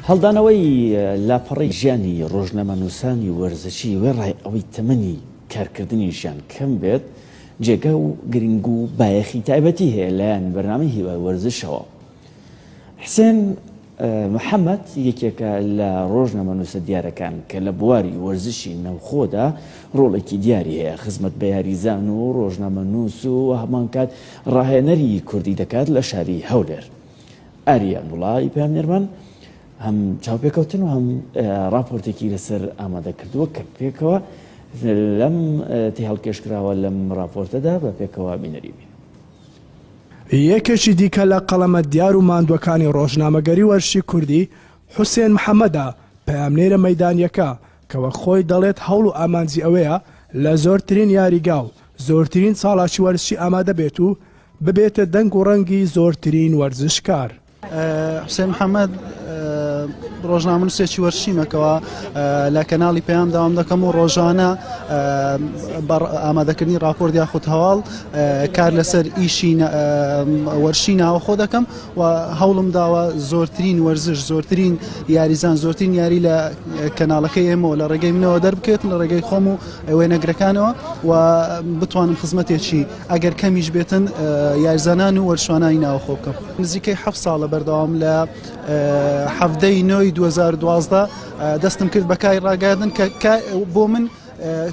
هەڵدانەوەی لاپەڕەی ژیانی ڕۆژنامەنووسانی وەرزشی وێڕای ئەوەی تەمەنی کارکردنیشیان کەم بێت، جێگا و گرنگ و بایەخی تایبەتی هەیە لەلایەن بەرنامەی هیوای وەرزشەوە. حسێن محەمەد یەکێکە لە ڕۆژنامەنووسە دیارەکان کە لە بواری وەرزشی ناوخۆدا ڕۆڵێکی دیاری هەیە، خزمەت بە یاریزان و ڕۆژنامەنووس و هەمانکات ڕاهێنەری کوردی دەکات لە شاری هەولێر. ئاریا گوڵای پامێرمان هەم چاوپێکەوتن و هەم راپۆرتێکی لەسەر ئامادە کردووە کە پێکەوە لەم تی هەڵکێشکراوە لەم راپۆرتەدا بە پێکەوە بینەریبین. یەکێکی دیکە لە قەڵەمە دیار و ماندووەکانی ڕۆژنامەگەری و ئەرشی کوردی، حوسێن محەمەدە، پەیامنێرە مەیدانییەکە، کە وەک خۆی دەڵێت هەوڵ و ئامانجی ئەوەیە لە زۆرترین یاریگا و زۆرترین چاڵاکی وەرزشی ئامادە بێت و ببێتە دەنگ و ڕەنگی زۆرترین وەرزشکار. حوسێن محەمەد، ڕۆژنامەنووسێکی وەرشیمە کەوا لە کەناڵی پەیام داوام دەکەم و ڕۆژانە ئامادەکردنی ڕاپۆرت یاخود هەواڵ کار لەسەر ئیشی وەرشی ناوەخۆ دەکەم و هەوڵم داوە زۆرترین وەرزش زۆرترین یاریزان زۆرترین یاری لە کەناڵەکەی ئێمەوە لە ڕێگەی منەوە دەربکەێت لە ڕێگەی خۆم و وێنەگرەکانەوە و بتوانم خزمەتێکی ئەگەر کەمیش بێتن یاریزانان و وەرشوانانی ناوخۆ بکەم نزیکەی ح ساڵە بەردەوام لە حەفتەی نۆی 2012 دەستم کرد بەکای ڕاگەاردن کە بۆ من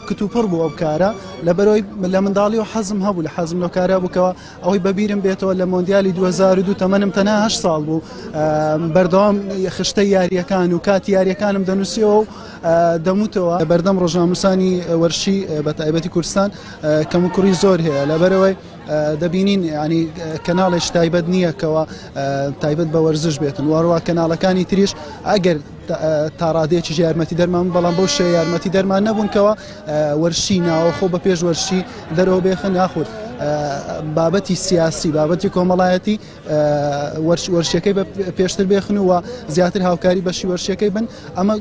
کتوپڕ بوو ئەو کارە لەبەرەوەی لە منداڵی و حەزم هەبوو لە حەزم لەو کارە بکەوە ئەوەی بەبیرم بێتەوە لە مۆندیالی 2002 تەمەنم تەناهش ساڵ بوو بەردەوام خشتە یاریەکان و کات یاریەکانم دەنووسیەوە و دەموتەوە بەردەم ڕۆژناموسانی وەرشی بە تایبەتی کوردستان کەم و کوڕی زۆر هەیە لەبەرەوەی دەبینین ینی کەناڵێش تایبەت نییە کەەوە تایبەت بە وەرزش بێتن وارووا کەناڵەکانی تریش ئەگەر تاڕادێکی یارمەتی دەرمان بەڵام بەو شێ یارمەتی دەرمان نەبوونکەوە وەرشی ناوەخۆ بە پێش وەرشی دەرەوە بێخن یاخود بابەتی سیاسی بابەتی کۆمەڵایەتی وەرشیەکەی بە پێشتر بێخن و زیاتر هاوکاری بەشی وەرشیەکەی بن ئەمە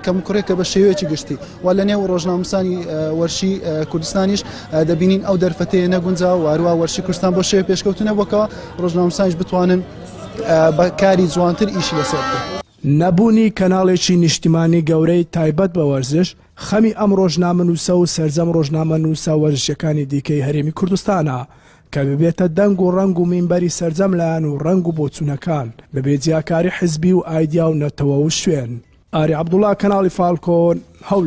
کەمکوڕێکە بە شێوەیەکی گشتی و لە نێو ڕۆژناموسانی وەرشی کوردستانیش دەبینین ئەو دەرفەتەیە نەگونجا و هەروە وەرشی کوردستان بۆ شێوە پێشکەوتنە بۆکەوە ڕۆژناموسانیش بتوانن بە کاری جوانتر ئیشی لەسەر نەبوونی کەناڵێکی نیشتیمانی گەورەی تایبەت بە وەرزش خەمی ئەم ڕۆژنامەنووسە و سەرجەم ڕۆژنامەنووسە وەرزشیەکانی دیکەی هەرێمی کوردستانە کە ببێتە دەنگ و ڕەنگ و مینبەری سەرجەم لایەن و ڕەنگ و بۆچوونەکان، بەبێ جیاکاری حزبی و ئایدیا و نەتەوە و شوێن. ئاری عەبدوڵا، کەناڵی فالکۆن، هەولێر.